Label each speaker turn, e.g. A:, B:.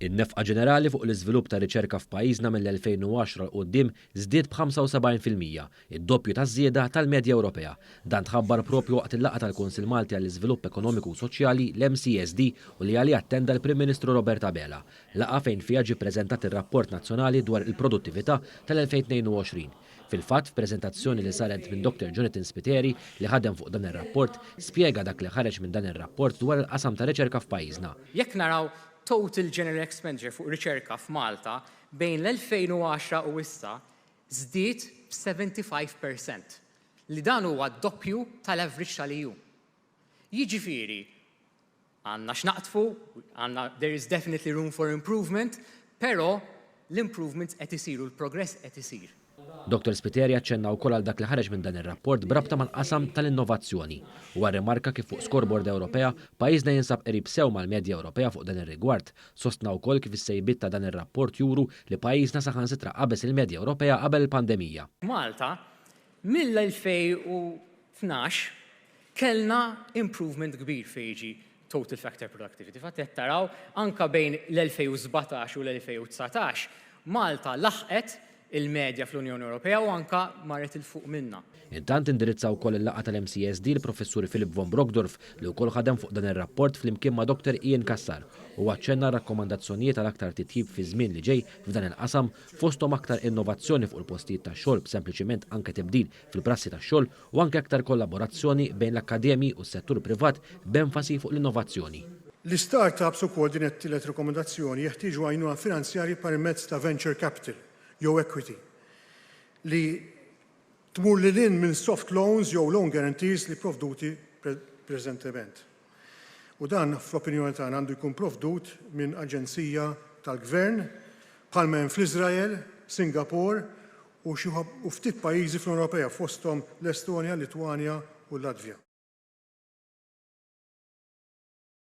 A: In-nefqa ġenerali fuq l-iżvilupp tar-riċerka f'pajjiżna mill-2010 'l quddiem żdied b'75 fil-mija, id-doppju taż-żieda tal-medja Ewropea. Dan tħabbar proprju waqt il-laqgħa tal-Kunsill Malti għall-Iżvilupp Ekonomiku u Soċjali, l-MCSD, u li għaliha attenda l-Prim Ministru Robert Abela, laqgħa fejn fiha ġie ppreżentat ir-Rapport Nazzjonali dwar il-Produttività tal-2022. Fil-fatt, f'preżentazzjoni li saret minn Dr Jonathan Spiteri, li ħadem fuq dan ir-rapport, spjega dak li ħareġ minn dan ir-rapport dwar il-qasam ta' riċerka f'pajjiżna. Jekk naraw
B: total general expenditure fuq riċerka f'Malta bejn l-2010 u issa żdied b'75 per cent, li dan huwa d-doppju tal-average tal-EU. Jiġifieri, Għandna x'naqdfu, għandna, there is definitely room for improvement, però l-improvements qed isiru, l-progress qed isir. Dottor Spiteri
A: aċċenna wkoll għal dak li ħareġ minn dan ir-rapport b'rabta mal-qasam tal-innovazzjoni. Huwa rrimarka kif fuq scoreboard Ewropea, pajjiżna jinsab qrib sew mal-medja Ewropea fuq dan ir-rigward. Sostna wkoll kif is-sejbiet ta' dan ir-rapport juru li pajjiżna saħansitra qabeż il-medja Ewropea qabel il-pandemija. Malta,
B: Mill-2012 kellna improvement kbir fejn jiġi total factor productivity. Fatt qed taraw anke bejn l-2017 u l-2019 Malta laħqet il-medja fl-Unjoni Ewropea u anke marret 'il fuq minnha. Intant indirizza
A: wkoll il-laqgħa tal-MCSD l-Professur Philip von Brockdorff li wkoll ħadem fuq dan ir-rapport flimkien ma' Dottor Ian Cassar. Huwa aċċenna għar-rakkomandazzjonijiet għal aktar titjib fiż-żmien li ġej f'dan il-qasam fosthom aktar innovazzjoni fuq il-postijiet tax-xogħol b'sempliċiment anke tibdil fil-prassi tax-xogħol u anke aktar kollaborazzjoni bejn l-akkademji u s-settur privat b'enfasi fuq l-innovazzjoni. L-istart-ups
C: ukoll, din hija t-tielet rekomendazzjoni, jeħtieġu għajnuna finanzjarji permezz ta' venture capital jew equity li tmur lil hinn minn soft loans jew loan guarantees li provduti preżentement. U dan, fl-opinjoni tagħna, għandu jkun provdut minn aġenzija tal-gvern bħalma hemm fl-Iżrael, Singapore u xi u ftit pajjiżi fl-Unjoni Ewropea fosthom l-Estonja, Litwanja u l-Latvja.